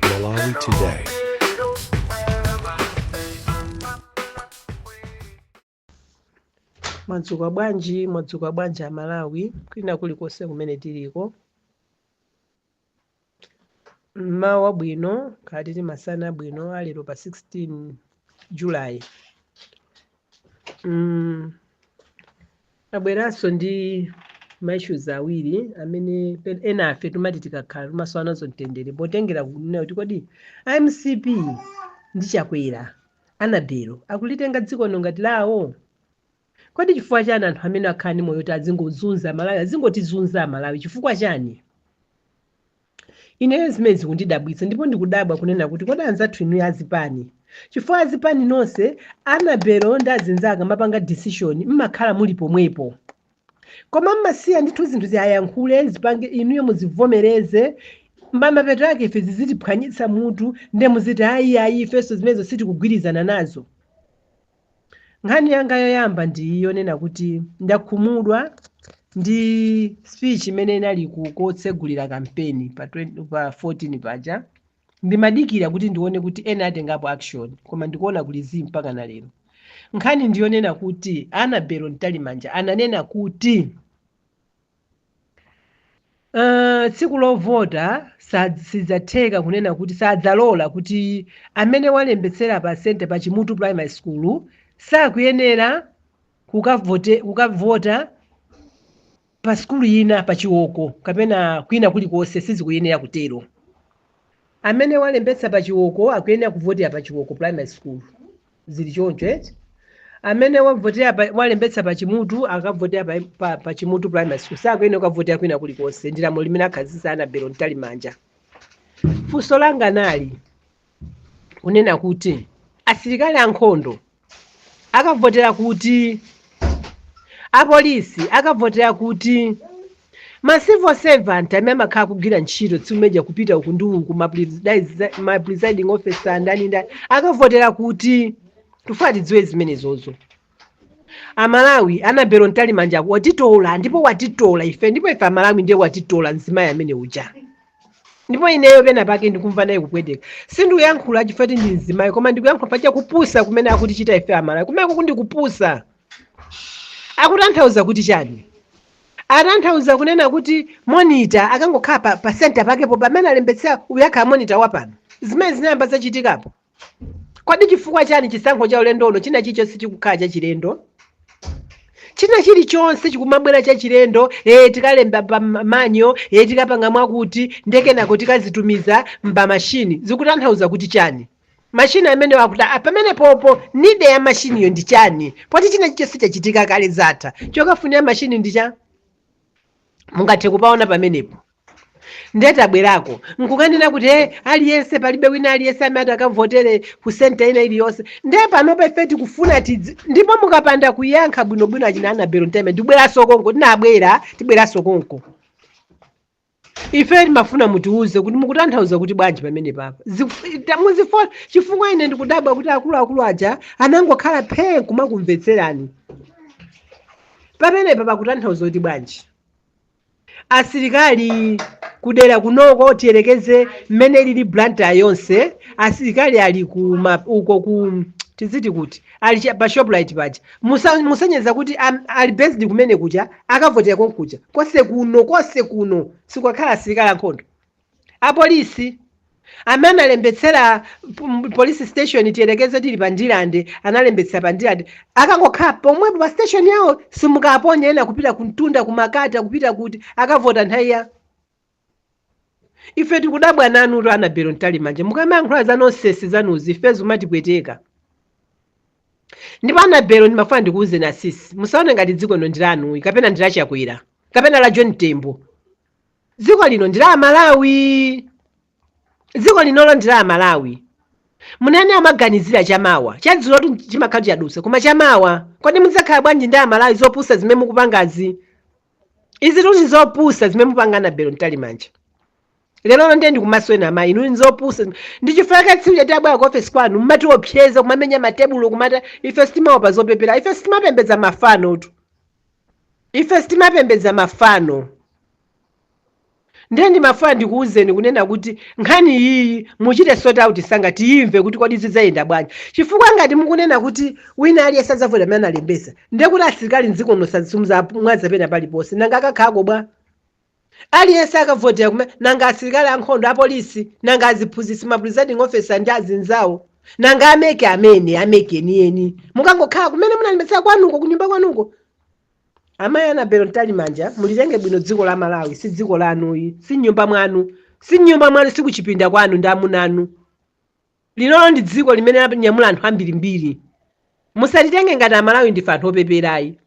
Malawi Today. mwadzuka bwanji mwadzuka bwanji aMalawi kwina kulikonse kumene tiliko mmawa wabwino kaya titi masana abwino alero pa 16 July Mm, tabweranso ndi maissues awiri amene pe- ena a ife timati tikakhala timasowa nazo mtendere potengera kunena kuti kodi a MCP ndi Chakwera Annabel akulitenga dziko lino ngati lawo kodi chifukwa chani anthu amene akhala ndi moyo woti azingozunza aMalawi azingotizunza aMalawi chifukwa chani Ineyo zimene zikundidabwitsa ndipo ndikudabwa kunena kuti kodi anzathu inuyo azipani chifukwa azipani nonse Annabel ndi azinzake mapanga decision mmakhala muli pomwepo koma mmasiya ndithu zinthu ziyayankhule zipange inuyo muzivomereze mamapeto ake ife zizitiphwanyitsa mutu nde muziti ayi ayi ifenso zimenezo sitikugwirizana nazo Nkhani yanga yoyamba ndi yonena kuti ndakhumudwa ndi speech imene inali ku- kotsegulira kampeni pa 20 pa 14 paja. Ndimadikira kuti ndione kuti ena atengapo action koma ndikuona kuli zii mpaka na lero. Nkhani ndi yonena kuti Annabel Mtalimanja ananena kuti Uh, tsiku lovota sidzatheka kunena kuti sadzalola kuti amene walembetsera pa center pa Chimutu Primary School sakuyenera kukavota pa sukulu ina pa Chiwoko kapena kwina kulikonse sizikuyenera kutero. Amene walembetsa pa Chiwoko akuyenera kuvotera pa Chiwoko Primary School. zili choncho eti amene wavotera pa- walembetsa pa Chimutu akavotera pa, pa, pa Chimutu Primary School sakuyenera kukavotera kwina kulikonse ndi lamulo limene akhazikitsa Annabel Mtalimanja funso langa nali kunena kuti asilikali ankhondo akavotera kuti apolisi akavotera kuti ma civil servant amene amakhala kugwira ntchito tsiku limene lija kupita uku ndi uku ma presidi- ma presiding officer ndani ndani akavotera kuti tifuna tidziwe zimenezozo aMalawi Annabel Mtalimanja watitola ndipo watitola ife ndipo ife aMalawi ndiye watitola mzimayi amene uja ndipo ineyo pena pake ndikumva naye kupweteka sindikuyankhula chifukwa choti ndi mzimayi koma ndikuyankhula chifukwa cha kupusa kumene akutichita ife aMalawi kumene kuku ndi kupusa akutanthauza kuti chani atanthauza kunena kuti monita akangokhala pa, pa senta pakepo pamene alembetsera uyu akhala monita wapano zimene zinayamba zachitikapo Kodi chifukwa chani chisankho cha ulendo uno china chilichonse chikukhala chachilendo? China chilichonse chikumabwera chachilendo, eh tikalemba pa ma- manjo, eh tikapanga mwakuti, nde kenako tikazitumiza m'mashini. Zikutanthauza kuti chani? Mashini amenewo akuti "Ah, pamenepopo need ya mashiniyo ndi chani? Poti china chilichonse chachitika kale zatha. Chokafunira mashini ndi cha? Mungathe kupaona pamenepo. ndiye tabwerako nkukanena kuti e aliyense palibe wina aliyense amene atakavotere ku senta ina iliyonse ndiye panopa ife tikufuna tidzi ndipo mukapanda kuyankha bwinobwino achina anabelo mtalimanja ndibweranso konko tinabwera tibweranso konko ife timafuna mutiuze kuti mukutanthauza kuti bwanji pamenepapa Ziku- ta- muzifo- chifukwa ine ndikudabwa kuti akuluakulu aja anangokhala phee kumakumvetserani pamenepa pakutanthauza kuti bwanji asilikali kudera kunoko tiyerekeze mmene ilili blantyre yonse asilikali ali ku ma- uko ku tiziti kuti ali cha- pa shoprite paja Musa- muyerekeze kuti am- ali based kumene kuja akavotera konkuja konse kuno konse kuno sikukakhala asilikali ankhondo Apolisi amene analembetsera p- m- police station tiyerekeze tili pa ndilande analembetsera pa ndilande akangokhala pomwepo pa station yawo simukaponya ena kupita kumtunda kumakati akupita kuti akavota nthawi ya ife tikudabwa nanutu anabelo mtalimanja mukamayankhula za nonsense zanuzi ife zimatipweteka ndipo anabelo ndimafuna ndikuwuzeni asisi musaone ngati dziko lino ndilanuyi kapena ndi la chakwera kapena la john tembo dziko lino ndi la amalawi dziko linolo ndi la amalawi munthu amaganizira chamawa chadzulotu chimakhala chadutsa koma chamawa kodi mudzakhala bwanji ndi amalawi zopusa zimene mukupangazi izi tuti zopusa zimene mupanga anabelo mtalimanja lero ndiye ndikumasulani amayi inu nzopusa ndi chifukwa chake tsiku tinabwera ku ofesi kwanu mmatiopseza kumamenya matebulo kumata ife sitimaopa zopepera ife sitimapembedza mafanotu Ife sitimapembedza mafano. Ndiye ndimafuna ndikuwuzeni kunena kuti nkhani iyiyi muchite sort out msanga tiyimve kuti kodi zidzayenda bwanji. Chifukwa ngati mukunena kuti wina aliyense adzavota pamene analembetsa, ndiye kuti asilikali m'dziko muno simudzawamwaza pena paliponse. Nanga akakhalako bwa? Aliyense akavotera kumene, nanga asilikali ankhondo, apolisi, nanga aziphunzitsi, ma presiding officer ndi azinzawo, nanga a MEC amene, a MEC enieni. Mukangokhala kumene munalembetsera kwanuko, kunyumba kwanuko. Amayi Anabelo Mtalimanja, mulitenge bwino dziko la Malawi, si dziko lanuyi, si nyumba mwanu, si nyumba mwanu, si kuchipinda kwanu ndi amuna anu. Linolo ndi dziko limene lanyamula anthu ambirimbiri. Musalitenge ngati Amalawi ndife anthu opeperayi.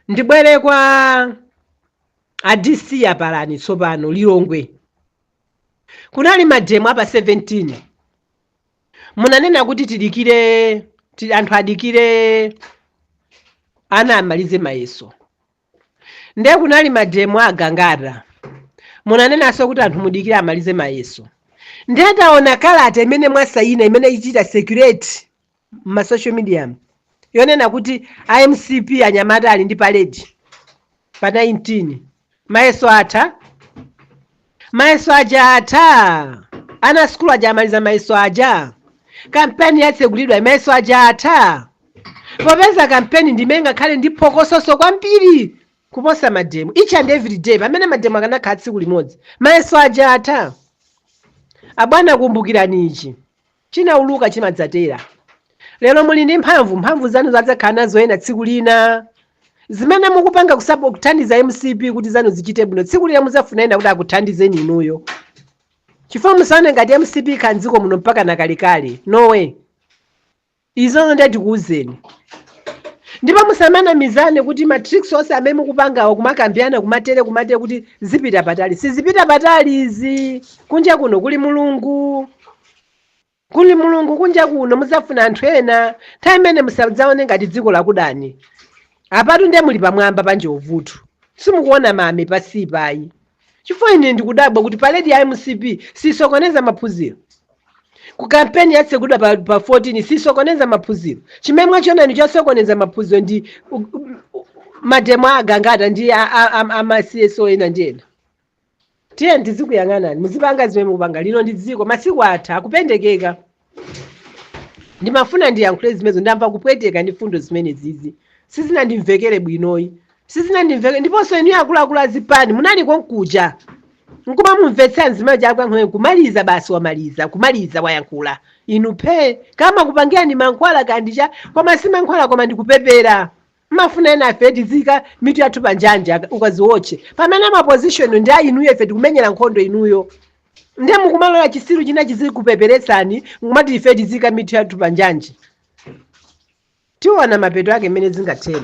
ndibwere kwa adc apalani tsopano lilongwe kunali mademo apa 17 munanena kuti tidikire ti- anthu adikire ana amalize mayeso ndiye kunali mademo agangata munanenanso kuti anthu mudikire amalize mayeso ndiye ndaona kalata imene mwasayina imene i- ikuchita circulate ma social media mu yonena kuti a mcp anyamata ali ndi paledi pa 19 mayeso atha mayeso aja atha ana a sukulu aja amaliza mayeso aja kampeni yatsegulidwa mayeso aja atha popeza kampeni ndi imene ingakhale ndi phokososo kwambiri kuposa mademo each and every day pamene mademo akanakhala tsiku limodzi mayeso aja atha abwana kumbukirani ichi chinauluka chimadzatera. Lero muli ndi mphamvu, mphamvu zanuzo adzakhala nazo ena tsiku lina. Zimene mukupanga kusabo- kuthandiza mcp kuti zanu zichite bwino tsiku lina mudzafuna ena kuti akuthandizeni inuyo. Chifukwa musaone ngati mcp ikhala m'dziko muno mpaka na kalekale. No way. Izozo ndiye tikuuzeni. Ndipo musamanamizane kuti ma tricks onse amene mukupangawo kumakambirana kumseri kumseri kuti zipita patali. Sizipita patali izi. Kunja kuno kuli Mulungu. kuli mulungu kunja kuno muzafuna anthu ena nthawi imene musadzaone ngati dziko lakudani apatu ndiye muli pamwamba pa njovu tu simukuona mame pansipayi chifukwa ine ndikudabwa kuti paledi ya mcp sisokoneza maphunziro ku kampeni yatsegulidwa pa, pa 14 sisokoneza maphunziro chimene mwachiona ndi chosokoneza maphunziro ndi u- u- u- mademo a agangata ndi a- a- a- a ma cso ena ndi ena tiyeni tizikuyang'anani muzipanga zimene mukupanga lino ndi dziko masiku atha kupendekeka ndimafuna ndiyankhule zimenezo ndamva kupweteka ndi fundo zimenezizi sizinandimvekere bwinoyi sizinandimvekere ndiponso inu akuluakulu azipani munali konkuja nkuma mumvetsera mzimayi akunena nkhoe kumaliza basi wamaliza kumaliza wayankhula inu phe kaya amakupangirani mankhwala kapena ndi chani koma si mankhwala koma ndi kupepera Mumafuna enafe tiziika mitu yathu pa njanji aka- ukaziwotche pamene ma position ndi a inuyo ife tikumenyera nkhondo inuyo nde mukumalola chisiru china chizikupeperetsani nkumati ife tiziika mitu yathu pa njanji tiona mapeto ake mmene zingathere